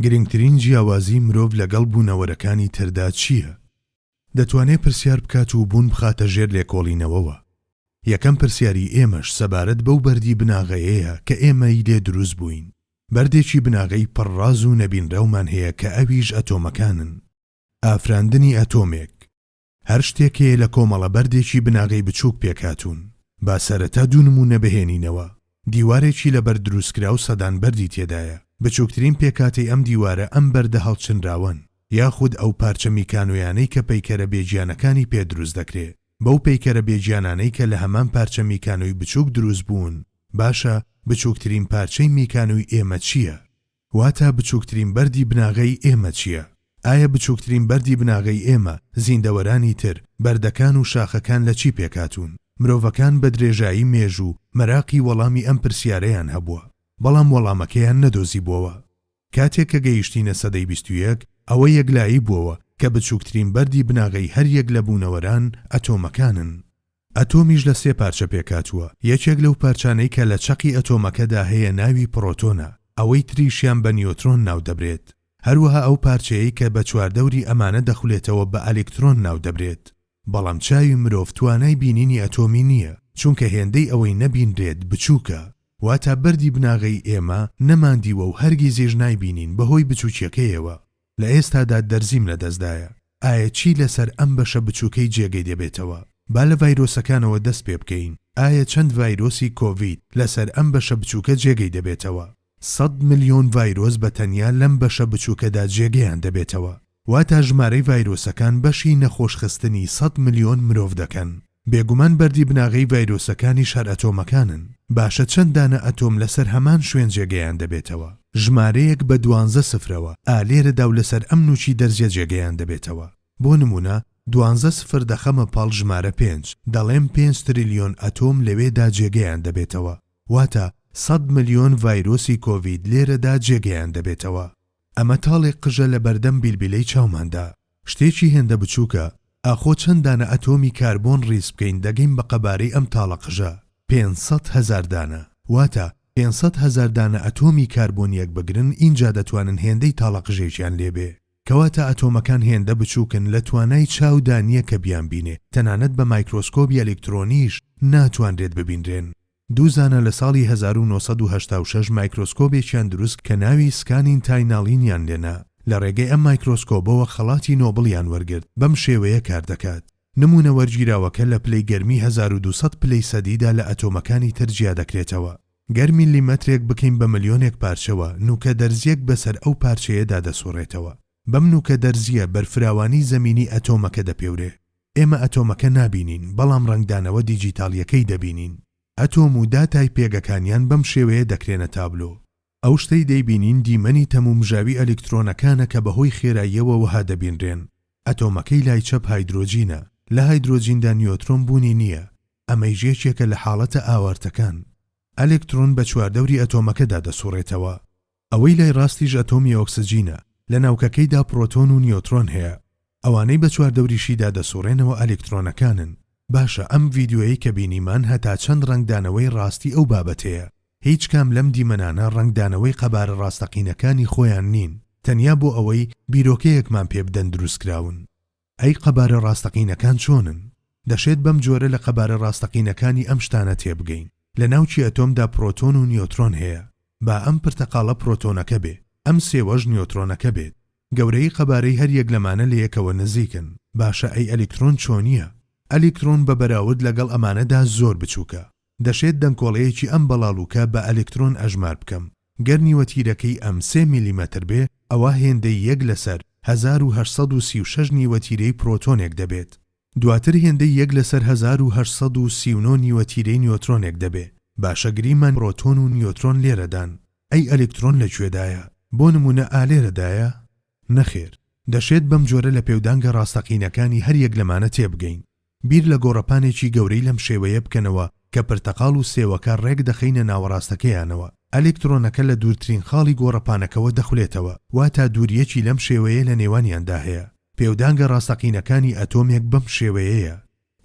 گرنگترین جیاوازی مرۆڤ لەگەڵ بوونەوەرەکانی تردا چییە؟ دەتوانێت پرسیار بکات و بوون بخاتە ژێر لێکۆڵینەوەوە. یەکەم پرسیاری ئێمەش سەبارەت بەو بەردی بناغەیەیە کە ئێمەی لێ دروست بووین. بەردێکی بناغەی پڕ ڕاز و نەبینراومان هەیە کە ئەویش ئەتۆمەکانن. ئافراندنی ئەتۆمێک، هەر شتێک هەیە لە کۆمەڵە بەردێکی بناغەی بچووک پێکهاتوون. با سەرەتا دوو نموونە بهێنینەوە، دیوارێکی لە بەرد دروستکراو سەدان بەردی تێدایە، بچووکترین پێکهاتەی ئەم دیوارە ئەم بەردە هەڵچنراوەن، یاخود ئەو پارچە میکانۆیانەی کە پەیکەرە بێگیانەکانی پێ دروست دەکرێ، بەو پەیکەرە بێگیانانەی کە لە هەمان پارچە میکانۆی بچووک دروست بوون، باشە بچووکترین پارچەی میکانۆی ئێمە چییە؟ واتا بچووکترین بەردی بناغەی ئێمە چییە؟ ئایا بچووکترین بەردی بناغەی ئێمە، زیندەوەرانی تر، بەردەکان و شاخەکان لە چی پێکهاتوون؟ مرۆڤەکان بە درێژایی مێژوو مەراقی وەڵامی ئەم پرسیارەیان هەبووە، بەڵام وەڵامەکەیان نەدۆزیبووەوە. کاتێک کە گەیشتینە سەدەی بیست و یەک، ئەوە یەکلایی بووەوە کە بچووکترین بەردی بناغەی هەر یەک لە بوونەوەران ئەتۆمەکانن. ئەتۆمیش لە سێ پارچە پێکهاتووە، یەکێک لەو پارچانەی کە لە چەقی ئەتۆمەکەدا هەیە ناوی پڕۆتۆنە، ئەوەی تریشیان بە نیۆترۆن ناودەبرێت، هەروەها ئەو پارچەیەی کە بە چواردەوری ئەمانە دەخولێتەوە بە ئەلیکترۆن ناودەبرێت. بەڵام چاوی مرۆڤ توانای بینینی ئەتۆمی نییە، چونکە هێندەی ئەوەی نەبینرێت بچووکە، واتا بەردی بناغەی ئێمە نەماندیوە و هەرگیزیش نایبینین بەهۆی بچووکیەکەیەوە. لە ئێستادا دەرزیم لە دەستدایە، ئایا چی لەسەر ئەم بەشە بچووکەی جێگەی دەبێتەوە؟ با لە ڤایرۆسەکانەوە دەست پێ بکەین، ئایا چەند ڤایرۆسی کۆڤید لەسەر ئەم بەشە بچووکە جێگەی دەبێتەوە؟ سەد ملیۆن ڤایرۆس بە تەنیا لەم بەشە بچووکەدا جێگەیان دەبێتەوە، واتا ژمارەی ڤایرۆسەکان بەشی نەخۆشخستنی سەد ملیۆن مرۆڤ دەکەن. بێگومان بەردی بناغەی ڤایرۆسەکانیش هەر ئەتۆمەکانن، باشە چەند دانە ئەتۆم لەسەر هەمان شوێن جێگەیان دەبێتەوە؟ ژمارەیەک بە دوانزە سفرەوە، ئا لێرەدا و لەسەر ئەم نوچی دەرزیە جێگەیان دەبێتەوە. بۆ نمونە دوانزە سفر دەخەمە پاڵ ژمارە پێنج، دەڵێم پێنج تریلیۆن ئەتۆم لەوێدا جێگەیان دەبێتەوە، واتە سەد ملیۆن ڤایرۆسی کۆڤید لێرەدا جێگەیان دەبێتەوە. ئەمە تاڵێک قژە لە بەردەم بیلبیلەی چاوماندا. شتێکی هێندە بچووکە، ئاخۆ چەند دانە ئەتۆمی کاربۆن ڕیز بکەین دەگەین بە قەبارەی ئەم تاڵە قژە؟ پێنج سەد هەزار دانە. واتە پێنج سەد هەزار دانە ئەتۆمی کاربۆن یەک بگرن ئینجا دەتوانن هێندەی تاڵە قژێکیان لێ بێ. کەواتە ئەتۆمەکان هێندە بچووکن لە توانای چاو دا نییە کە بیانبینێ، تەنانەت بە مایکرۆسکۆبی ئەلیکترۆنیش ناتوانرێت ببینرێن. دوو زانا لە ساڵی هەزار و نۆ سەد و هەشتا و شەش مایکرۆسکۆبێکیان دروست کە ناوی سکانین تاینالینیان لێنا، لە ڕێگەی ئەم مایکرۆسکۆبەوە خەڵاتی نۆبڵیان وەرگرت، بەم شێوەیە کار دەکات. نموونە وەرگیراوەکە لە پلەی گەرمی هەزار و دوو سەد پلەی سەدیدا لە ئەتۆمەکانی تر جیا دەکرێتەوە. گەر میلیمەترێک بکەین بە ملیۆنێک پارچەوە، نووکە دەرزییەک بەسەر ئەو پارچەیەدا دەسوڕێتەوە. بەم نووکە دەرزییە بەرفراوانی زەمینی ئەتۆمەکە دەپێورێ. ئێمە ئەتۆمەکە نابینین، بەڵام ڕەنگدانەوە دیجیتاڵییەکەی دەبینین. ئەتۆم و داتای پێگەکانیان بەم شێوەیە دەکرێنە تابلۆ. ئەو شتەی دەیبینین دیمەنی تەمومژاوی ئەلیکترۆنەکانە کە بەهۆی خێراییەوە وەها دەبینرێن. ئەتۆمەکەی لای چەپ هایدرۆجینە، لە هایدرۆجیندا نیۆترۆن بوونی نییە، ئەمەیش یەکێکە لە حاڵەتە ئاوارتەکان. ئەلکترۆن بە چواردەوری ئەتۆمەکەدا دەسوڕێتەوە. ئەوەی لای ڕاستیش ئەتۆمی ئۆکسجینە، لە ناوکەکەیدا پڕۆتۆن و نیۆترۆن هەیە، ئەوانەی بە چواردەوریشیدا دەسوڕێنەوە ئەلکترۆنەکانن. باشە ئەم ڤیدیۆیەی کە بینیمان هەتا چەند ڕەنگدانەوەی ڕاستی ئەو بابەتەیە؟ هیچ کام لەم دیمەنانە ڕەنگدانەوەی قەبارە ڕاستەقینەکانی خۆیان نین، تەنیا بۆ ئەوەی بیرۆکەیەکمان پێ بدەن دروستکراون. ئەی قەبارە ڕاستەقینەکان چۆنن؟ دەشێت بەم جۆرە لە قەبارە ڕاستەقینەکانی ئەم شتانە تێبگەین، لە ناوکی ئەتۆمدا پرۆتۆن و نیۆترۆن هەیە، با ئەم پرتەقاڵە پرۆتۆنەکە بێ، ئەم سێوەش نیۆترۆنەکە بێت. گەورەیی قەبارەی هەر یەک لەمانە لە یەکەوە نزیکن. باشە ئەی ئەلیکترۆن چۆنییە؟ ئەلیکترۆن بە بەراورد لەگەڵ ئەمانەدا زۆر بچووکە. دەشێت دەنکۆڵەیەکی ئەم بەڵاڵوکە بە ئەلکترۆن ئەژمار بکەم گەر نیوە تیرەکەی ئەم سێ میلیمەتر بێ ئەوا هێندەی یەک لەسەر هەزار و هەشت سەد و سی و شەش نیوە تیرەی پرۆتۆنێک دەبێت دواتر هێندەی یەک لەسەر هەزار و هەشت سەد و سی و نۆ نیوە تیرەی نیۆترۆنێک دەبێ باشە گریمان پرۆتۆن و نیۆترۆن لێرەدان ئەی ئەلکترۆن لە کوێدایە بۆ نمونە ئالێرەدایە؟ نەخێر دەشێت بەم جۆرە لە پێودانگە ڕاستەقینەکانی هەر یەک لەمانە تێبگەین. بیر لە گۆڕەپانێکی گەورەی لەم شێوەیە بکەنەوە کە پرتەقاڵ و سێوەکە ڕێک دەخەینە ناوەڕاستەکەیانەوە، ئەلکترۆنەکە لە دوورترین خاڵی گۆڕەپانەکەوە دەخولێتەوە، واتا دوورییەکی لەم شێوەیە لە نێوانیاندا هەیە. پێودانگە ڕاستەقینەکانی ئەتۆمێک بەم شێوەیەیە.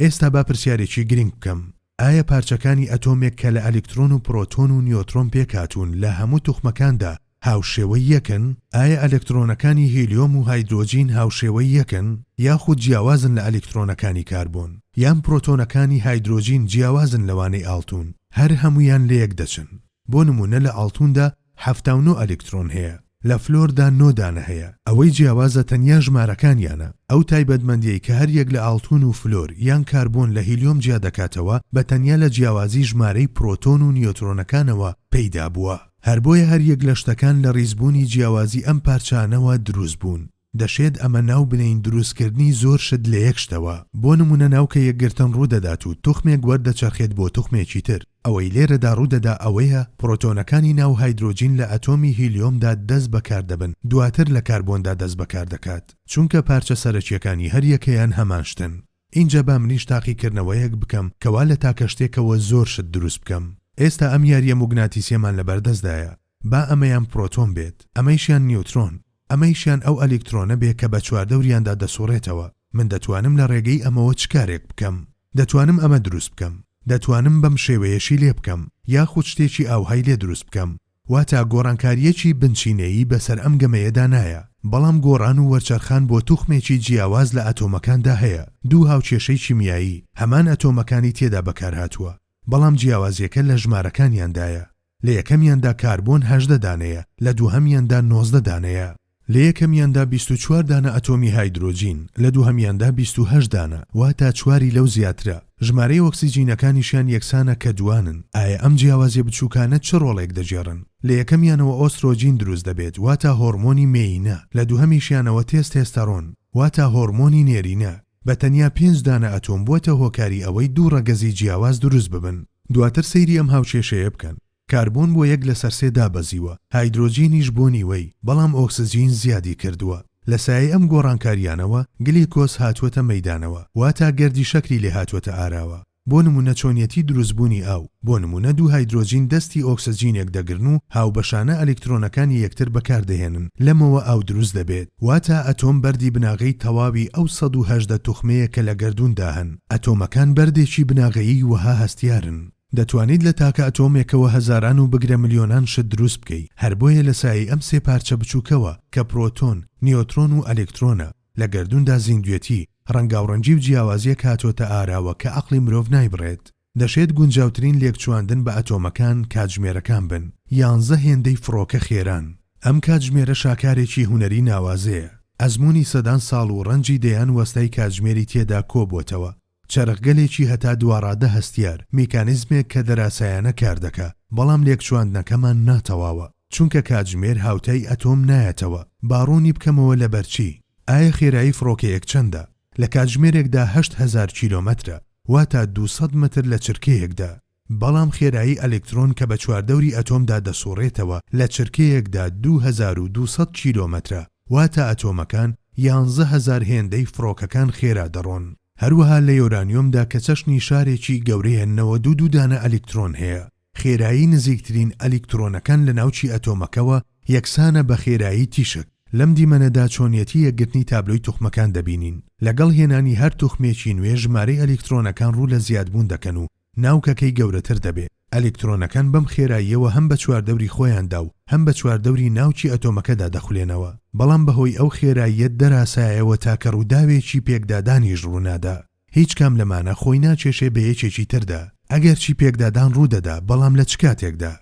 ئێستا با پرسیارێکی گرنگ بکەم. ئایا پارچەکانی ئەتۆمێک کە لە ئەلیکترۆن و پرۆتۆن و نیۆترۆن پێکهاتوون لە هەموو توخمەکاندا هاوشێوەی یەکن؟ ئایا ئەلکترۆنەکانی هیلیۆم و هایدرۆجین هاوشێوەی یەکن یاخود جیاوازن لە ئەلیکترۆنەکانی کاربۆن؟ یان پرۆتۆنەکانی هایدرۆجین جیاوازن لەوانەی ئاڵتوون هەر هەموویان لەیەک دەچن؟ بۆ نموونە لە ئاڵتووندا حەفتا و نۆ ئەلکترۆن هەیە، لە فلۆردا نۆ دانە هەیە، ئەوەی جیاوازە تەنیا ژمارەکانیانە، ئەو تایبەتمەندیەی کە هەریەک لە ئاڵتون و فلۆر یان کاربۆن لە هیلیۆم جیا دەکاتەوە بە تەنیا لە جیاوازی ژمارەی پرۆتۆن و نیۆترۆنەکانەوە پەیدا بووە، هەر بۆیە هەریەک لە شتەکان لە ڕیزبوونی جیاوازی ئەم پارچانەوە دروست بوون. دەشێت ئەمە ناو بنێین دروستکردنی زۆر شت لە یەک شتەوە، بۆ نموونە ناوکە یەکگرتن ڕوودەدات و توخمێک وەردەچەرخێت بۆ توخمێکی تر، ئەوەی لێرەدا ڕوودەدا ئەوەیە پڕۆتۆنەکانی ناو هایدرۆجین لە ئەتۆمی هیلیۆمدا دەست بەکار دەبن دواتر لە کاربۆندا دەست بەکار دەکات چونکە پارچە سەرەکیەکانی هەر یەکەیان هەمان شتن. ئینجا با منیش تاقیکردنەوەیەک بکەم کەوا لە تاکە شتێکەوە زۆر شت دروست بکەم. ئێستا ئەم یاریە موگناتیسیەمان لەبەردەستدایە با ئەمەیان پرۆتۆن بێت، ئەمەیشیان نیوترۆن، ئەمەیشیان ئەو ئەلیکترۆنە بێ کە بە چواردەوریاندا دەسوڕێتەوە، من دەتوانم لە ڕێگەی ئەمەوە چ کارێک بکەم؟ دەتوانم ئەمە دروست بکەم، دەتوانم بەم شێوەیەشی لێ بکەم، یاخود شتێکی ئاوهای لێ دروست بکەم. واتە گۆڕانکارییەکی بنچینەیی بەسەر ئەم گەمەیەدا نایە، بەڵام گۆڕان و وەرچەرخان بۆ توخمێکی جیاواز لە ئەتۆمەکاندا هەیە، دوو هاوکێشەی کیمیایی، هەمان ئەتۆمەکانی تێدا بەکارهاتووە، بەڵام جیاوازییەکە لە ژمارەکانیاندایە. لە یەکەمیاندا کاربۆن هەژدە دانەیە، لە دووهەمیاندا نۆزدە دانەیە. لە یەکەمیاندا بیست و چوار دانە ئەتۆمی هایدرۆجین، لە دووهەمیاندا بیست و هەشت دانە، واتە چواری لەو زیاترە. ژمارەی ئۆکسجینەکانیشیان یەکسانە کە دووانن. ئایا ئەم جیاوازیە بچووکانە چ ڕۆڵێک دەگێڕن؟ لە یەکەمیانەوە ئۆسترۆجین دروست دەبێت، واتە هۆڕمۆنی مێیینە، لە دووهەمیشیانەوە تێستێستەڕۆن، واتە هۆڕمۆنی نێرینە. بە تەنیا پێنج دانە ئەتۆم بووەتە هۆکاری ئەوەی دوو ڕەگەزی جیاواز دروست ببن، دواتر سەیری ئەم هاوکێشەیە بکەن، کاربۆن بۆ یەک لەسەر سێ دابەزیوە، هایدرۆجینیش بۆ نیوەی، بەڵام ئۆکسجین زیادی کردووە. لە سایەی ئەم گۆڕانکارییانەوە گلیکۆز هاتووەتە مەیدانەوە، واتا گەردی شەکری لێهاتووەتە ئاراوە. بۆ نموونە چۆنیەتی دروستبوونی ئاو، بۆ نموونە دوو هایدرۆجین دەستی ئۆکسجینێک دەگرن و هاوبەشانە ئەلیکترۆنەکانی یەکتر بەکاردەهێنن، لەمەوە ئاو دروست دەبێت. واتا ئەتۆم بەردی بناغەی تەواوی ئەو سەد و هەژدە توخمەیە کە لە گەردووندا هەن. ئەتۆمەکان بەردێکی بناغەیی وەها هەستیارن. دەتوانیت لە تاکە ئەتۆمێکەوە هەزاران و بگرە ملیۆنان شت دروست بکەی، هەر بۆیە لە سایەی ئەم سێ پارچە بچووکەوە کە پرۆتۆن، نیۆترۆن و ئەلیکترۆنە، لە گەردووندا زیندوێتی، ڕەنگاوڕەنگی و جیاوازییەک هاتۆتە ئاراوە کە عەقڵی مرۆڤ نایبڕێت. دەشێت گونجاوترین لێکچواندن بە ئەتۆمەکان کاتژمێرەکان بن، یانزە هێندەی فڕۆکە خێران. ئەم کاتژمێرە شاکارێکی هونەری ناوازەیە، ئەزموونی سەدان ساڵ و ڕەنجی دەیان وەستای کاتژمێری تێدا کۆبووەتەوە. چەرخگەلێکی هەتا دواڕادە هەستیار، میکانیزمێک کە دەراسایانە کار دەکا، بەڵام لێکچواندنەکەمان نا تەواوە، چونکە کاتژمێر هاوتای ئەتۆم نایەتەوە، با ڕوونی بکەمەوە لەبەر چی؟ ئایە خێرایی فڕۆکەیەک چەندە؟ لە کاتژمێرێکدا هەشت هەزار کیلۆمەترە، واتە دوو سەد مەتر لە چرکەیەکدا. بەڵام خێرایی ئەلکترۆن کە بە چواردەوری ئەتۆمدا دەسوڕێتەوە لە چرکەیەکدا دوو هەزار و دوو سەد کیلۆمەترە، واتە ئەتۆمەکان یانزە هەزار هێندەی فڕۆکەکان خێرا دەڕۆن. هەروەها لە یۆرانیۆمدا کە چەشنی شارێکی گەورەیە نەوەد و دوو دانە ئەلکترۆن هەیە، خێرایی نزیکترین ئەلکترۆنەکان لە ناوکی ئەتۆمەکەوە یەکسانە بە خێرایی تیشک. لەم دیمەنەدا چۆنیەتی یەکگرتنی تابلۆی توخمەکان دەبینین. لەگەڵ هێنانی هەر توخمێکی نوێ ژمارەی ئەلکترۆنەکان ڕوو لە زیادبوون دەکەن و ناوکەکەی گەورەتر دەبێ. ئەلکترۆنەکان بەم خێراییەوە هەم بە چواردەوری خۆیاندا و هەم بە چواردەوری ناوکی ئەتۆمەکەدا دەخولێنەوە، بەڵام بەهۆی ئەو خێراییە دەراسایەوە تاکە ڕووداوێکی پێکدادانیش ڕوونادا. هیچ کام لەمانە خۆی ناکێشێ بە یەکێکی تردا، ئەگەرچی پێکدادان ڕوودەدا، بەڵام لە چ کاتێکدا؟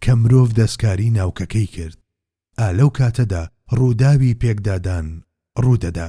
کە مرۆڤ دەستکاری ناوکەکەی کرد، ئا لەو کاتەدا ڕووداوی پێکدادان ڕوودەدا.